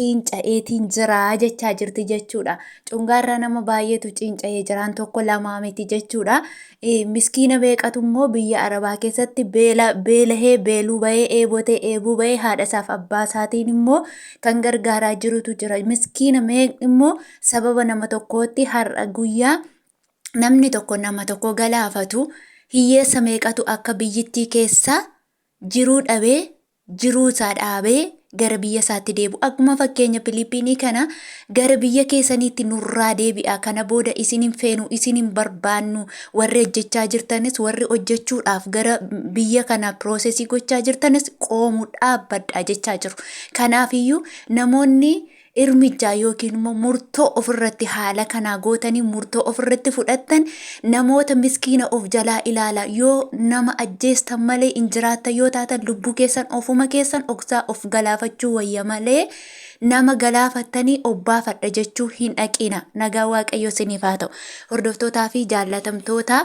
ciinca'eetiin jira jechaa jirti jechuudha. Cungaarraa nama baay'eetu ciinca'ee jiraan tokko lamaa miti jechuudha. Miskiina beekatu immoo biyya Arabaa keessatti beela beelahee beeluu bahee eebotee eebuu bahee haadha isaaf abbaa isaatiin immoo kan gargaaraa jirutu jira. Miskiina meeqni immoo sababa nama tokkootti har'a guyyaa namni tokko nama tokko galaafatu hiyyeessa meeqatu akka biyyittii keessa jiruu dhabee jiruu isaa dhaabee gara biyya isaatti deebi'u. Akkuma fakkeenya Filiippiinii kana gara biyya keessaniitti nurraa deebi'a. Kana booda isin hin feenu, isin hin barbaannu. Warri hojjechaa jirtanis, warri hojjechuudhaaf gara biyya kana piroosesii gochaa jirtanis qoomuu dhaabbadha jechaa jiru. Kanaafiyyuu namoonni irmijjaa yookiin immoo murtoo ofirratti haala kanaa gootanii murtoo ofirratti fudhattan namoota miskiina of jalaa ilaala yoo nama ajjeestan malee hin jiraattan yoo taatan lubbuu keessan ofuma keessan oksaa of galaafachuu wayya malee nama galaafattanii obbaafadha jechuu hin dhaqiina nagaa waaqayyo siniif haa ta'u hordoftootaa fi jaallatamtoota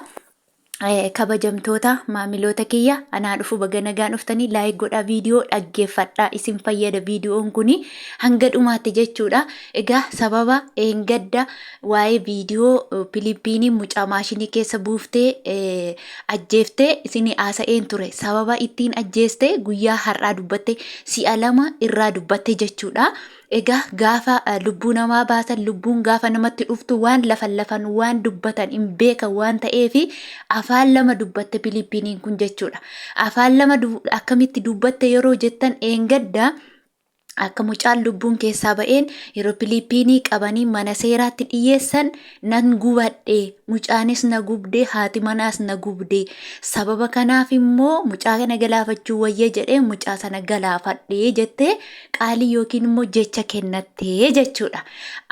Kabajamtoota maamiloota kiyya anaa dhufu baga nagaan dhuftanii like godhaa viidiyoo dhaggeeffadhaa isin fayyada viidiyoon kuni hanga dhumaatti jechuudha. Egaa sababa eengadda waa'ee viidiyoo Pilippiinii mucaa maashinii keessa buuftee eh, ajjeeftee isinii haasa'een ture. Sababa ittiin ajjeeste guyyaa har'aa dubbatte si'a lama irraa dubbatte jechuudha. Egaa gaafa lubbuu namaa baasan lubbuun gaafa namatti dhuftu waan lafan lafan waan dubbatan hin beekan waan ta'eef afaan lama dubbatte Filiippiiniin kun jechuudha. Afaan lama akkamitti dubbatte yeroo jettan eengadda akka mucaan lubbuun keessaa ba'een yeroo Filiippiinii qabanii mana seeraatti dhiyeessan nan gubadhe mucaanis na gubde haati manaas na gubde sababa kanaaf immoo mucaa kana galaafachuu wayya jedhee mucaa sana galaafadhe jettee qaalii yookiin immoo jecha kennattee jechuudha.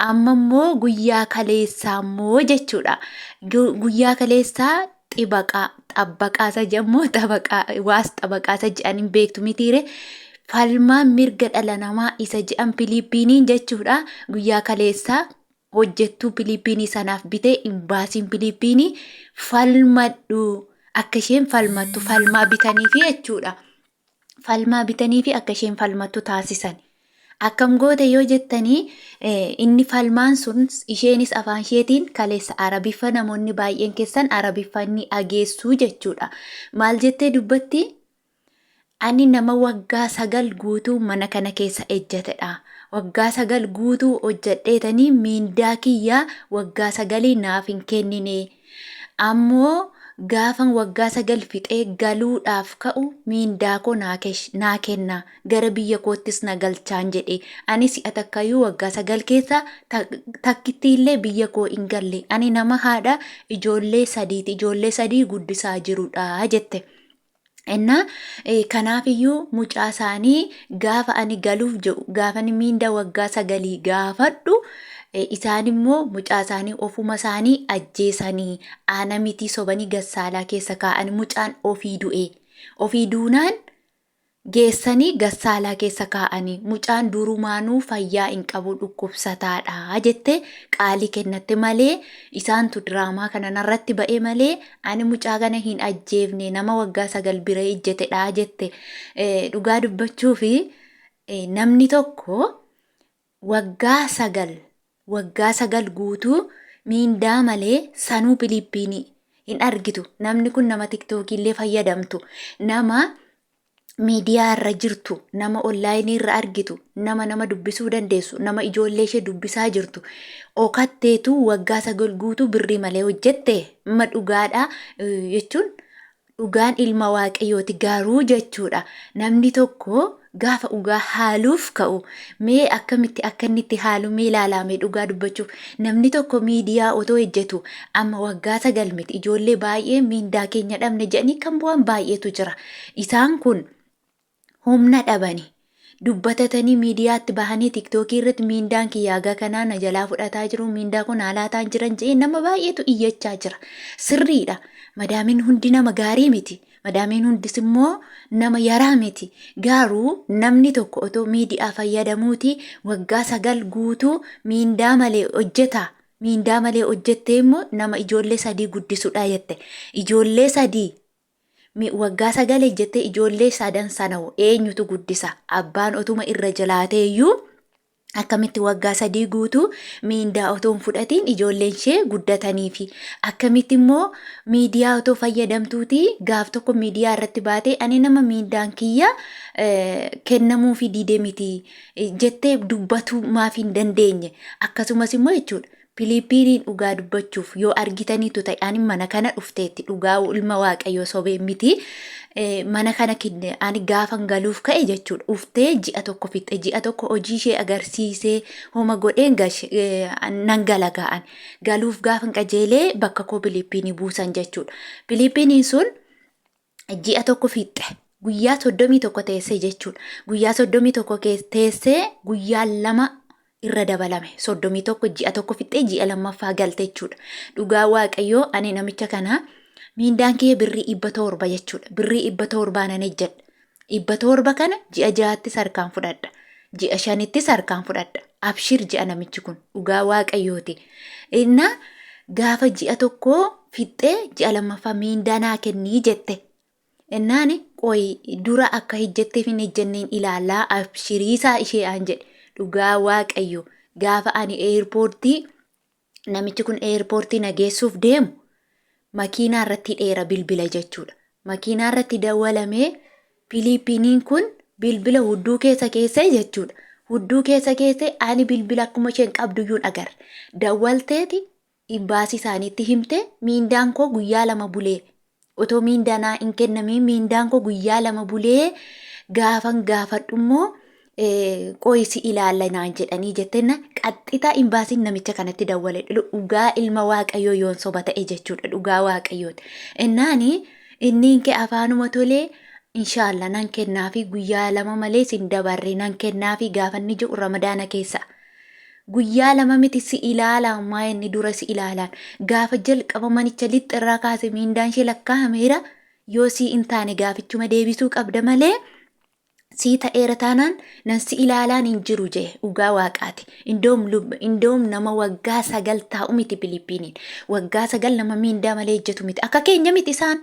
Amma immoo guyyaa kaleessaa immoo jechuudha. Guyyaa kaleessaa xibaqaa xabbaqaa isa jedhamu xabaqaa waas xabaqaa isa jedhan hin beektu mitiire. Falmaa mirga dhala namaa isa jedhan Filiippiiniin jechuudha. Guyyaa kaleessaa hojjettuu Filiippiinii sanaaf bitee imbaasiin Filiippiinii falmadhu akka isheen falmattu falmaa bitaniifi jechuudha. falmaa bitaniifi akka isheen falmattu taasisan. Akkam goote yoo jettanii inni falmaan sun isheenis afaan isheetiin kaleessa arabiffa namoonni baay'een keessan arabiffa inni ageessuu jechuudha. Maal jettee dubbatti? Ani nama waggaa sagal guutuu mana kana keessa ejjatedha. Waggaa sagal guutuu hojjedheetanii miindaa kiyyaa waggaa sagalii naaf hin kennine Ammoo gaafan waggaa sagal fixee galuudhaaf ka'u miindaa koo naa kenna, gara biyya koottis na galchaan jedhe. Ani si'a takkayyuu waggaa sagal keessaa takkittiillee biyya koo hin galle. Ani nama haadha ijoollee sadiiti, ijoollee sadii guddisaa jirudha jette. Ennaa kanaaf iyyuu mucaa isaanii gaafa ani galuuf jedhu gaafa inni miinda waggaa sagalii gaafadhu isaan immoo mucaa isaanii ofuma isaanii ajjeesanii aana mitii sobanii gassaalaa keessa kaa'an mucaan ofii du'e ofii duunaan geessanii gassaalaa keessa kaa'anii mucaan durumaanuu fayyaa hin qabu dhukkubsataadha jette qaalii kennatte malee isaantu diraamaa kana narratti ba'e malee Ani mucaa kana hin ajjeefne nama waggaa sagal bira ijjetedha jette dhugaa dubbachuu fi namni tokko waggaa sagal waggaa sagal guutuu miindaa malee sanuu Filiippiinii hin argitu namni kun nama tiktookii illee fayyadamtu nama miidiyaa irra jirtu, nama onlaayinii irra argitu, nama nama dubbisuu dandeessu, nama ijoollee ishee dubbisaa jirtu, okatteetu waggaa sagal guutuu birrii malee hojjette ma dhugaadha eh, jechuun dhugaan ilma waaqayyooti garuu jechuudha namni tokko gaafa dhugaa haaluuf ka'u mee akkamitti akka inni itti haalu mee ilaalaame dhugaa dubbachuuf Namni tokko miidiyaa otoo hejjetu amma waggaa sagal miti ijoollee baay'ee miindaa keenya dhabne jedhanii kan bu'an baay'eetu jira. Isaan kun humna dhabani. Dubbatatanii miidiyaatti bahanii tiktookii irratti miindaan kiyyaa haga kanaa na jalaa fudhataa jiru miindaa kun haalaataan jiran jedhee nama baay'eetu iyyachaa jira. Sirriidha. Madaamin hundi nama gaarii miti. Madaamiin hundis immoo nama yaraa miti. Gaaruu namni tokko otoo miidiyaa fayyadamuuti waggaa sagal guutuu miindaa malee hojjeta. Miindaa malee hojjettee immoo nama ijoollee sadii guddisudha jette. Ijoollee sadii mi- waggaa sagal hojjettee ijoollee sadan sana hoo eenyutu guddisa? Abbaan otuma irra jalaatee iyyuu Akkamitti waggaa sadii guutuu miindaa otoo hin fudhatiin ijoolleen ishee guddatanii fi akkamitti immoo miidiyaa otoo fayyadamtuuti gaaf tokko miidiyaa irratti baatee ani nama miindaan kiyya eh, kennamuu fi diidee miti eh, jettee dubbatuu maaf hin dandeenye akkasumas immoo jechuudha Piliipiinii dhugaa dubbachuuf yoo argitaniitu ta'e ani mana kana dhufteetti dhugaa ilma waaqayyoo sobee miti mana kana kidne ani gaafan galuuf ka'e jechuudha dhuftee ji'a tokko fixxe ji'a tokko hojii ishee agarsiisee homa godheen gashe- eh, nan gala ga'an galuuf gaafan qajeelee bakka koo piliipiinii buusan jechuudha piliipiiniin sun ji'a tokko fixxe guyyaa soddomii tokko teessee jechuudha. Guyyaa soddomii tokko teessee guyyaa lama irra dabalame soddomii tokko ji'a tokko fixxee ji'a lammaffaa galte jechuudha. Dhugaa waaqayyoo ani namicha kana miindaan kiyya birrii dhibba torba jechuudha. Birrii dhibba torbaa nan hojjedha. Dhibba torba kana ji'a ja'attis harkaan fudhadha. Ji'a shanittis harkaan fudhadha. Abshir ji'a namichi kun dhugaa waaqayyooti. Innaa gaafa ji'a tokkoo fixxee ji'a lammaffaa miindaa naa kennii jette. Ennaani qoyi dura akka hijjetteef hin hijjenneen ilaalaa abshiriisaa ishee aan jedhe dhugaa waaqayyo gaafa ani eerpoortii namichi kun eerpoortii na geessuuf deemu makiinaa irratti hidheera bilbila jechuudha. Makiinaa irratti dawwalamee Filiippiiniin kun bilbila hudduu keessa keessee jechuudha. Hudduu keessa keessee ani bilbila akkuma isheen qabduyyuu hin agarre. Dawwalteeti Imbaasii isaaniitti himte miindaan koo guyyaa lama bulee otoo miindaa naa hin kennamiin miindaan koo guyyaa lama bulee gaafan gaafadhu immoo qoyi si ilaalla naan jedhanii jettenna qaxxitaa imbaasiin namicha kanatti dawwale dhugaa ilma waaqayyoo yoon soba ta'e jechuudha dhugaa waaqayyooti innaani inniin kee afaanuma tolee inshaallah nan kennaafi guyyaa lama malee sin dabarre nan kennaafi gaafanni jiru ramadaana keessa Guyyaa lama miti si ilaalaa maa inni dura si ilaalaan gaafa jalqaba manicha lixxe irraa kaase miindaan ishee lakkaa'ameera yoo sii hin taane gaafichuma deebisuu qabda malee sii ta'eera taanaan nan si ilaalaan hin jiru jee dhugaa waaqaati indoom lub indoom nama waggaa sagal taa'u miti Filiippiiniin waggaa sagal nama miindaa malee hojjetu miti akka keenya miti isaan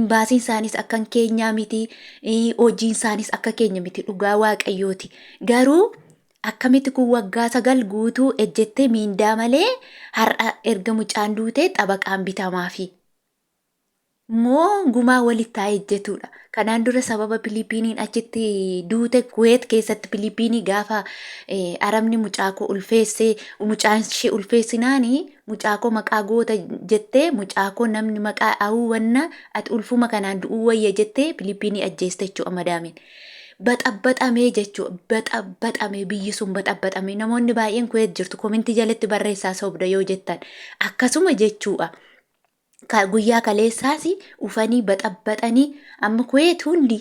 imbaasiin isaanis akka keenyaa miti eh, hojiin isaanis akka keenya miti dhugaa waaqayyooti garuu Akkamiti kun waggaa sagal guutuu ejjettee miindaa malee har'a erga mucaan duutee xabaqaan bitamaafi moo gumaa walitti haa ejjetuudha. Kanaan dura sababa Piliipiiniin achitti duute Kuweet keessatti Piliipiinii gaafa Arabni mucaa koo ulfeessee mucaan ishee ulfeessinaani mucaa koo maqaa goota jettee mucaa koo namni maqaa awuu wanna ati ulfuma kanaan du'uu wayya jettee Piliipiinii ajjeeste jechuudha madaamiin. baxabaxamee jechuu baxabaxamee biyyi sun baxabaxamee namoonni baay'een kuweet jirtu komintii jalatti barreessaa sobda yoo jettan akkasuma jechuudha. Ka- Guyyaa kaleessaas ufanii baxabaxanii amma kuweet hundi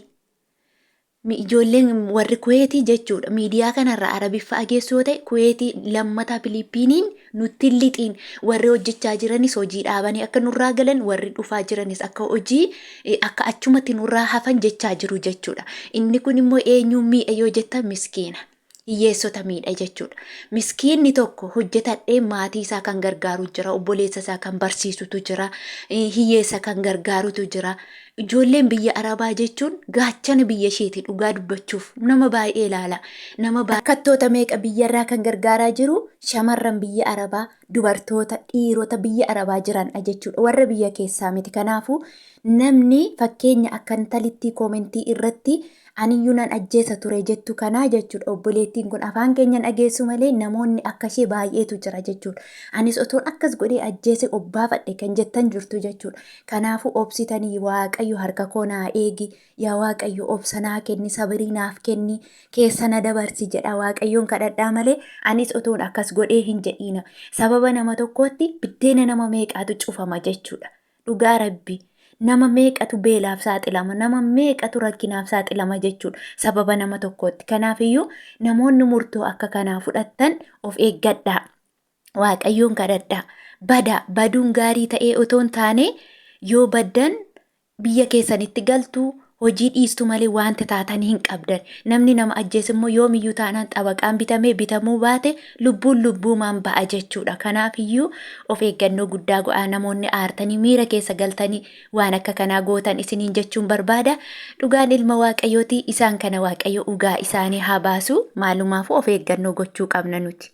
mi- ijoolleen warri kuweetii jechuudha miidiyaa kanarra arabiffa ageessu yoo ta'e kuweetii lammataa Filiippiiniin nutti hin lixiin, warri hojjechaa jiranis hojii dhaabanii akka nurraa galan, warri dhufaa jiranis akka hojii eh, akka achumatti nurraa hafan jechaa jiru jechuudha. Inni kun immoo eenyuun miidha yoo jettan miskiina. Hiyyeessota miidha jechuudha. Miskiinni tokko hojjetadhee maatii isaa kan gargaaru jira, obboleessa isaa kan barsiisutu jira, eh, hiyyeessa kan gargaarutu jira. Ijoolleen biyya Arabaa jechuun gaachana biyya isheeti dhugaa dubbachuuf nama baay'ee ilaala nama baay'ee. Rakkattoota meeqa biyyarraa kan gargaaraa jiru shamarran biyya Arabaa dubartoota dhiirota biyya Arabaa jiranidha jechuudha warra biyya keessaa miti kanaafuu namni fakkeenya akka intalittii koomentii irratti Aniyyuu nan ajjeesa ture jettu kanaa jechuudha. Obboleettiin kun afaan keenya dhageessu malee namoonni akka ishee baay'eetu jira jechuudha. Anis otoon akkas godhee ajjeese obbaafadhe kan jettan jirtu jechuudha. Kanaafuu obsitanii waaqayyo harka koo naa eegi yaa waaqayyo obsa naa kenni sabirii naaf kenni keessa na dabarsi jedha waaqayyoon kadhadhaa malee anis otoon akkas godhee hin jedhiina. Sababa nama tokkootti biddeena nama meeqaatu cufama jechuudha. Dhugaa rabbi nama meeqatu beelaaf saaxilama nama meeqatu rakkinaaf saaxilama jechuudha sababa nama tokkootti kanaafiyyuu namoonni murtoo akka kanaa fudhattan of eeggadhaa waaqayyoon kadhadhaa badaa baduun gaarii ta'ee otoo hin taane yoo baddan biyya keessanitti galtu Hojii dhiistu malee waanti taatan hin qabdan. Namni nama ajjeese immoo yoomiyyuu taanaan xabaqaan bitamee bitamuu baate lubbuun lubbuumaan ba'a jechuudha. Kanaafiyyuu of eeggannoo guddaa go'aa namoonni aartanii miira keessa galtanii waan akka kanaa gootan isiniin jechuun barbaada. Dhugaan ilma Waaqayyooti isaan kana Waaqayyo ugaa isaanii haa baasu. Maalumaafuu of eeggannoo gochuu qabna nuti.